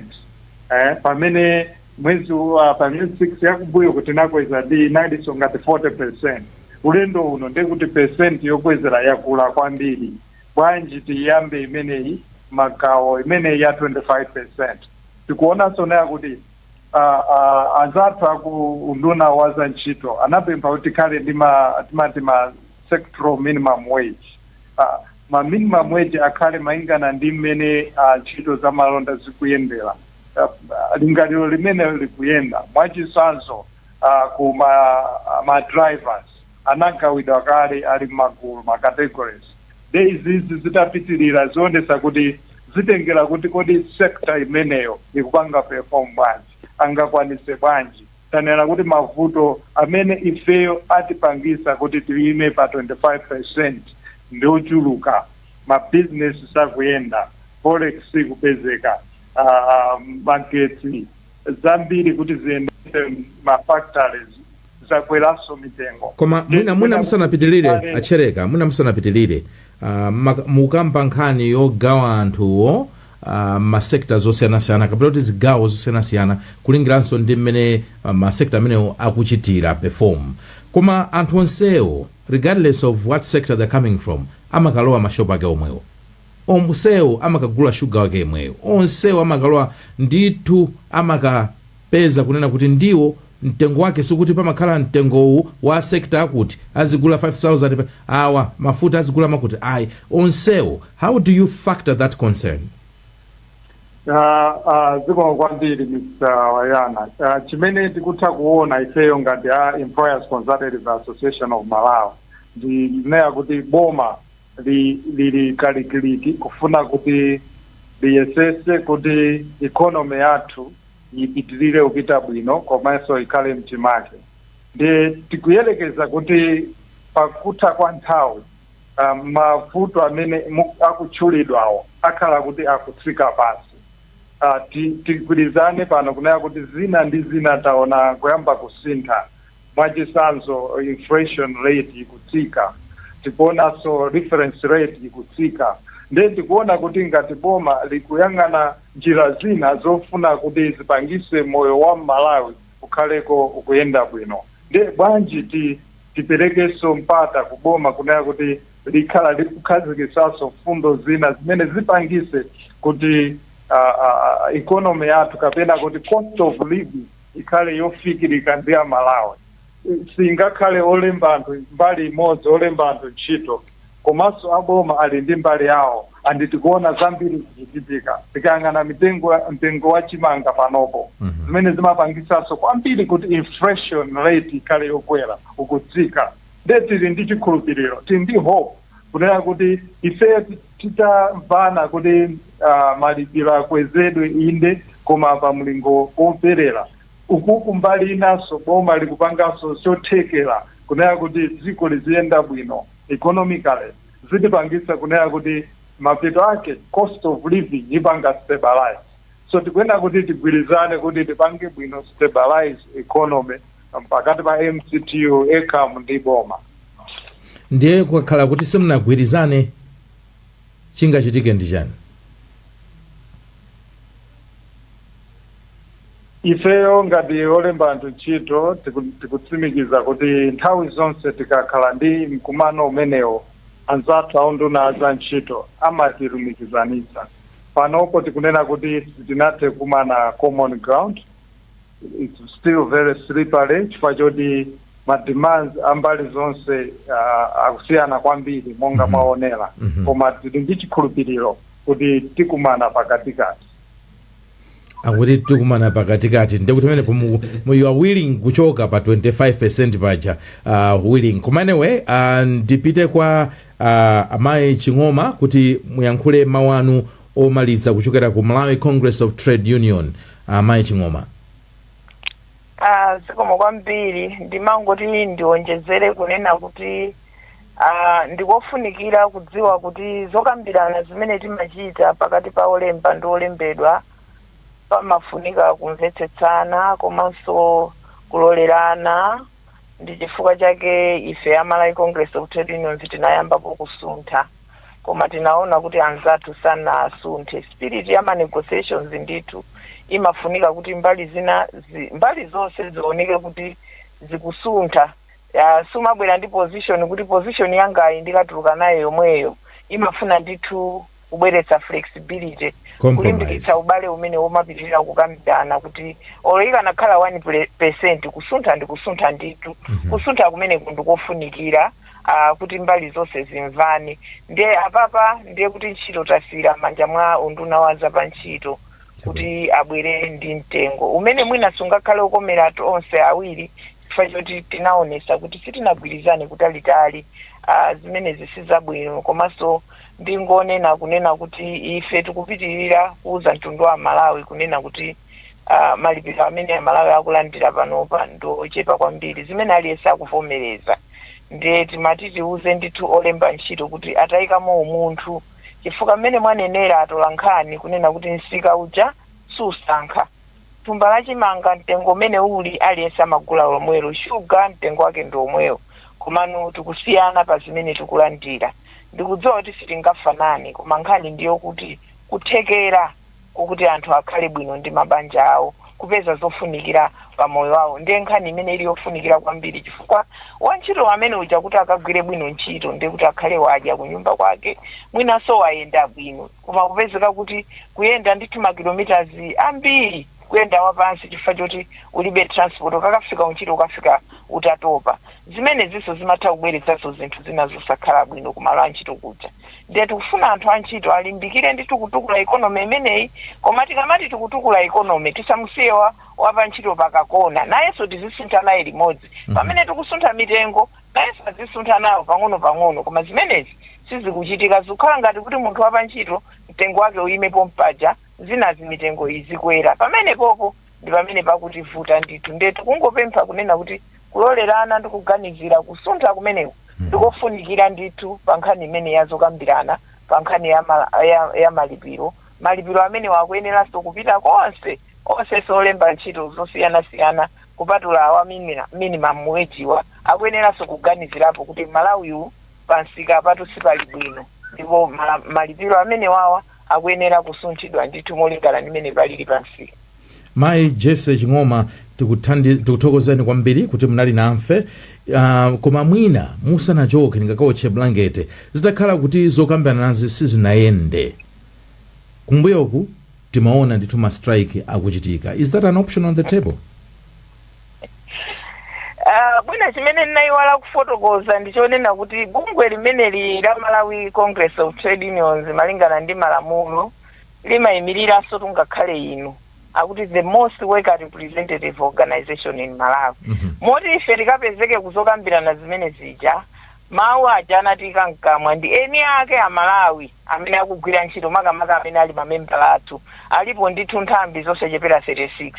pamene. Mwezi wa pa miyezi 6 yakumbuyoku tinakweza ndi inalinso ngati 40 percent. Ulendo uno ndiye kuti percent yokwezera yakula kwambiri. Bwanji tiyambe imeneyi magawo imeneyi ya 25 percent. Tikuonanso naye kuti uh, uh, anzathu aku unduna wa za ntchito anapempha kuti tikhale ndi ma timati ma sectoral minimum wage. Uh, ma minimum wage akhale malingana ndi mmene uh, ntchito za malonda zikuyendera. uh, lingaliro limenelo likuyenda mwachitsanzo uh, ku ma, ma drivers anagawidwa kale ali mmagulu ma categories nde izizi zitapitirira zionesa kuti zitengera kuti kodi sekta imeneyo ikupanga perform bwanji angakwanise bwanji tanena kuti mavuto amene ifeyo atipangisa kuti tiyime pa 25 percent ndiochuluka mabizinesi sakuyenda forex sikupezeka ah, magetsi zambiri kuti ziyendese ma factories zakweranso mitengo koma Ndi- mwina mwina
musanapitirire Kale- a Chereko mwina musanapitirire ah, maka- mukamba nkhani yogawa anthuwo ah, masekta zosiyanasiyana kapena kuti zigawo zosiyanasiyana kulingiranso ndi mmene ah, masekta amenewo akuchitira perform koma anthu onsewo regardless of what sector they're coming from amakalowa mashopu ake omwewo onsewo amakagula shuga wake yemweyo onsewo amakalowa ndithu amakapeza kunena kuti ndiwo mtengo wake sikuti pamakhala mtengo uwu wa sector akuti azigula 5000 awa a mafuta azigula makuti ayi onsewo how do you factor that
concern Ah, ah, zikomo kwambiri mr wayana Ah, chimene tikutha kuona ifeyo ngati a employers consultative association of malawi ndi kunena kuti boma li, lili kalikiliki kufuna kuti liyesese kuti economy yathu ipitirire kupita bwino komanso ikhale mchimake ndiye tikuyerekeza kuti pakutha kwa nthawi uh, mavuto amene mu- akutchulidwawo akhala kuti akutsika pansi uh, tigwirizane pano kunena kuti zina ndi zina taona kuyamba kusintha Mwachitsanzo inflation rate ikutsika, tikuonanso reference rate ikutsika nde tikuona kuti ngati boma likuyang'ana njira zina zofuna kuti zipangise moyo wa m'Malawi ukhaleko ukuyenda bwino nde bwanji ti tiperekenso mpata ku boma kunena kuti likhale likukhazikitsanso mfundo zina zimene zipangise kuti economy yathu kapena kuti cost of living ikhale yofikirika ndi a Malawi. Singakhale olemba anthu mbali imodzi olemba anthu ntchito komanso a boma ali ndi mbali yawo and tikuona zambiri zikuchitika tikayang'ana mtengo wa chimanga panopo zimene zimapangisanso kwambiri kuti inflation rate ikhale yokwera ukutsika nde tili ndi chikhulupiriro tili ndi hope kunena kuti ifeyo ti- titamvana kuti uh, malipiro akwezedwe inde koma pa mlingo woyenera uku kumbali inanso boma likupanganso chothekera kunena kuti dziko liziyenda bwino economically zitipangitsa kunena kuti mapeto ake cost of living ipanga stabilize so tikuyenera kuti tigwirizane kuti tipange bwino stabilize economy pakati pa mctu ecam ndi boma
ndiye kukakhala kuti simunagwirizane chingachitike ndi chani
ifeyo ngati olemba anthu ntchito tiku- tikutsimikiza kuti nthawi zonse tikakhala ndi mkumano umenewo anzathu aunduna wa za ntchito amatilumikizanitsa panopo tikunena kuti sitinathe kumana common ground its still very slippery chifukwa choti ma demands a mbali zonse uh, akusiyana kwambiri monga mwaonera koma tili ndi chikhulupiriro kuti tikumana pakatikati
akuti tikumana pakatikati ndekuti pamenepo mu- mu- you are willing kuchoka pa 25 percent paja uh, willing koma anyway uh, ndipite kwa uh, amayi ching'oma kuti muyankhule mawu anu omaliza kuchokera ku Malawi Congress of Trade Union amayi Ching'oma. Ah,
zikomo kwambiri ndimangoti ndionjezere kunena kuti ah, ndikofunikira kudziwa kuti zokambirana zimene timachita pakati pa olemba ndi olembedwa pamafunika kumvetsetsana komanso kulolerana Ndi chifukwa chake ife a Malawi Congress of Trade Unions tinayambapo kusuntha koma tinaona kuti anzathu sanasunthe. Spirit ya ma negotiations ndithu imafunika kuti mbali zina zi, mbali zonse zioneke kuti zikusuntha. Ya, sumabwera ndi position kuti position yangayi ndikatuluka nayo yomweyo imafuna ndithu kubweretsa flexibility kulimbikitsa ubale umene womapitirira kukambirana kuti olo ikanakhala 1 pule- percent kusuntha ndi kusuntha ndithu kusuntha kumeneku ndikofunikira ah, kuti mbali zonse zimvane ndiye apapa ndiye kuti ntchito tasiyira m'manja mwa unduna wa zapantchito kuti abwere ndi mtengo umene mwina sungakhale okomera anthu onse awiri chifukwa choti tinaonesa kuti sitinagwirizane kutalitali ah, zimenezi sizabwino komanso ndingonena kunena kuti ife tikupitirira kuuza mtundu wa amalawi kunena kuti uh, malipiro amene amalawi akulandira panopa ndi ochepa kwambiri zimene aliyense akuvomereza ndiye timati tiuze ndithu olemba ntchito kuti atayikamo umunthu chifukwa mmene mwanenera atolankhani kunena kuti msika uja susankha thumba la chimanga mtengo umene uli aliyense amagula lomwelo, sugar mtengo wake ndi omwewo komano tikusiyana pa zimene tikulandira. Ndikudziwa kuti sitingafanane koma nkhani ndi yokuti kuthekera kokuti anthu akhale bwino ndi mabanja awo, kupeza zofunikira pa moyo wawo ndiye nkhani imene ili yofunikira kwambiri chifukwa wantchito amene uja kuti akagwire bwino ntchito ndiye kuti akhale wadya kunyumba kwake mwinanso wayenda bwino. Koma kupezeka kuti kuyenda ndithu ma kilometers ambiri kuyenda wapansi chifukwa choti ulibe transport ukakafika kuntchito ukafika utatopa zimenezinso zimatha kubweretsanso zinthu zina zosakhala bwino kumalo antchito kuja ndiye tikufuna anthu antchito alimbikire ndithu kutukula economy imeneyi koma tikamati tikutukula economy tisamusiye wa, wapantchito pakakona nayenso tizisuntha naye limodzi pamene tikusuntha mitengo Nayenso adzisuntha nawo pang'onopang'ono, koma zimenezi sizikuchitika. Zikukhala ngati kuti munthu wa pantchito, mtengo wake uime pompaja, zinazi mitengo izikwera pamenepopo. Ndi pamene pakutivuta ndithu. Ndiye tikungopempha kunena kuti kulolerana ndi kuganizira kusuntha kumeneku ndi kofunikira ndithu pa nkhani imeneyi ya zokambirana pa nkhani ya ma, ya, ya malipiro. Malipiro amenewa akuyeneranso kupita konse, onsenso olemba ntchito zosiyanasiyana kupatula awa minimum wage wa, akuyeneranso kuganizirapo kuti mmalawi u pa msikapatu sipali bwino ndipo malipiro amenewawa akuyenera kusunthidwa ndithu molingana ndi mmene palili pa msika. Mayi
Jessy Ching'oma tikuthokozeni kwambiri kuti munali nanfe uh, koma mwina musanachoke ndingakaotche bulangete zitakhala kuti zokambilanazi sizinayende kumbuyoku. Timaona ndithu ma strike akuchitika is that an option on the
table? Ah, mwina chimene ndinayiwala kufotokoza ndi chonena kuti bungwe limeneli la malawi congress of trade unions malingana ndi malamulo limayimiriranso tungakhale inu akuti the most worker representative organization in malawi moti ife tikapezeka kuzokambirana zimene zija mawu aja anatiika mkamwa ndi eni ake a malawi amene akugwira ntchito makamaka amene ali mamembala athu alipo ndithu nthambi zosachepera 36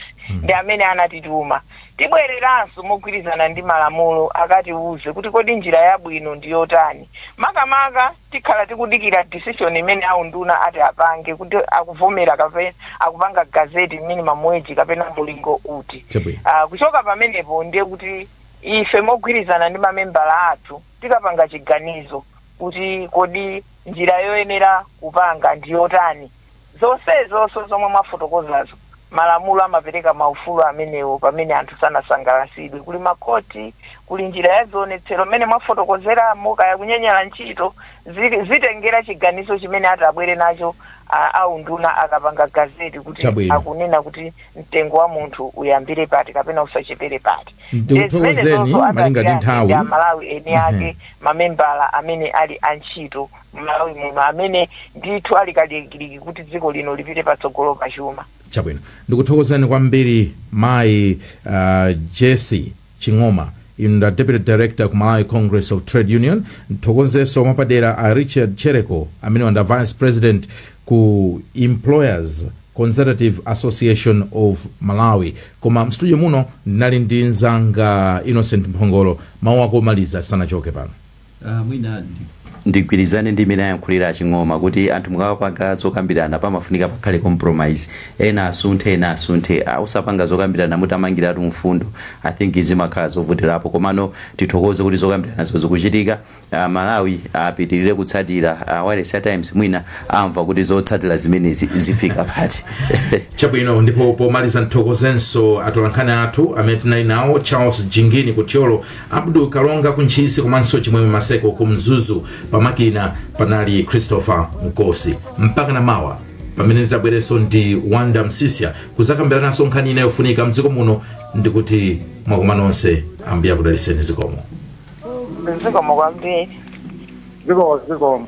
ndi amene anatituma tibwereranso mogwirizana ndi malamulo akatiuze kuti kodi njira yabwino ndi yotani makamaka tikhala tikudikira decision imene aunduna ati apange kuti akuvomera kapena akupanga gazeti minimum wage kapena mulingo uti Chabwino. Ah, kuchoka pamenepo ndiye kuti ife mogwirizana ndi mamembala athu Tikapanga chiganizo kuti kodi njira yoyenera kupanga ndi yotani, zonsezonso zomwe mwafotokozazo, malamulo amapereka maufulu amenewo pamene anthu sanasangalatsidwe. Kuli makhoti, kuli njira ya zionetsero mmene mwafotokozeramo, kaya kunyanyala ntchito, zi, zitengera chiganizo chimene atabwere nacho a, a unduna akapanga gazette kuti Chabwino. akunena kuti mtengo wa munthu uyambire pati kapena usachepere pati
ndikuthokozeni malinga ndi nthawi amalawi eni ake
mamembala amene ali antchito mmalawi muno amene ndithu ali kalikiliki kuti dziko lino lipite patsogolo pachuma chabwino
ndikuthokozeni kwambiri mayi uh, jesi Ching'oma. Inu nda Deputy Director ku Malawi Congress of Trade Union. Ndithokozenso mwapadera a Richard Tchereko amenewa nda Vice President ku Employers Consultative Association of Malawi. Koma mstudio muno ndinali ndi nzanga Innocent Mphongolo. Mawu ako omaliza tisanachoke pano. Aaa
mwina ndigwirizane ndi mmene ayankhulira a Ching'oma kuti anthu mukamapanga zokambirana pamafunika pakhale compromise ena asunthe ena asunthe osapanga zokambirana mutamangiratu mfundo I think zimakhala zovutilapo komano tithokoze kuti zokambiranazo zikuchitika a Malawi apitilize kutsatira a wailesi ya Times mwina amva kuti zotsatira zimenezi zifika pati. Chabwino
ndipo pomaliza ndithokozenso atolankhani athu amene tinali nawo Charles Jingini ku Thyolo Abdul Kalonga ku Ntchisi komanso Chimwemwe Maseko ku Mzuzu. Pamakina panali Christopher Mkosi. Mpaka na mawa pamene nditabwerenso ndi Wonder Msiska kuzakambirananso nkhani ina yofunika mdziko muno ndikuti mwakoma nonse ambuye akudaliseni zikomo. zikomo
kwambiri
zikomo zikomo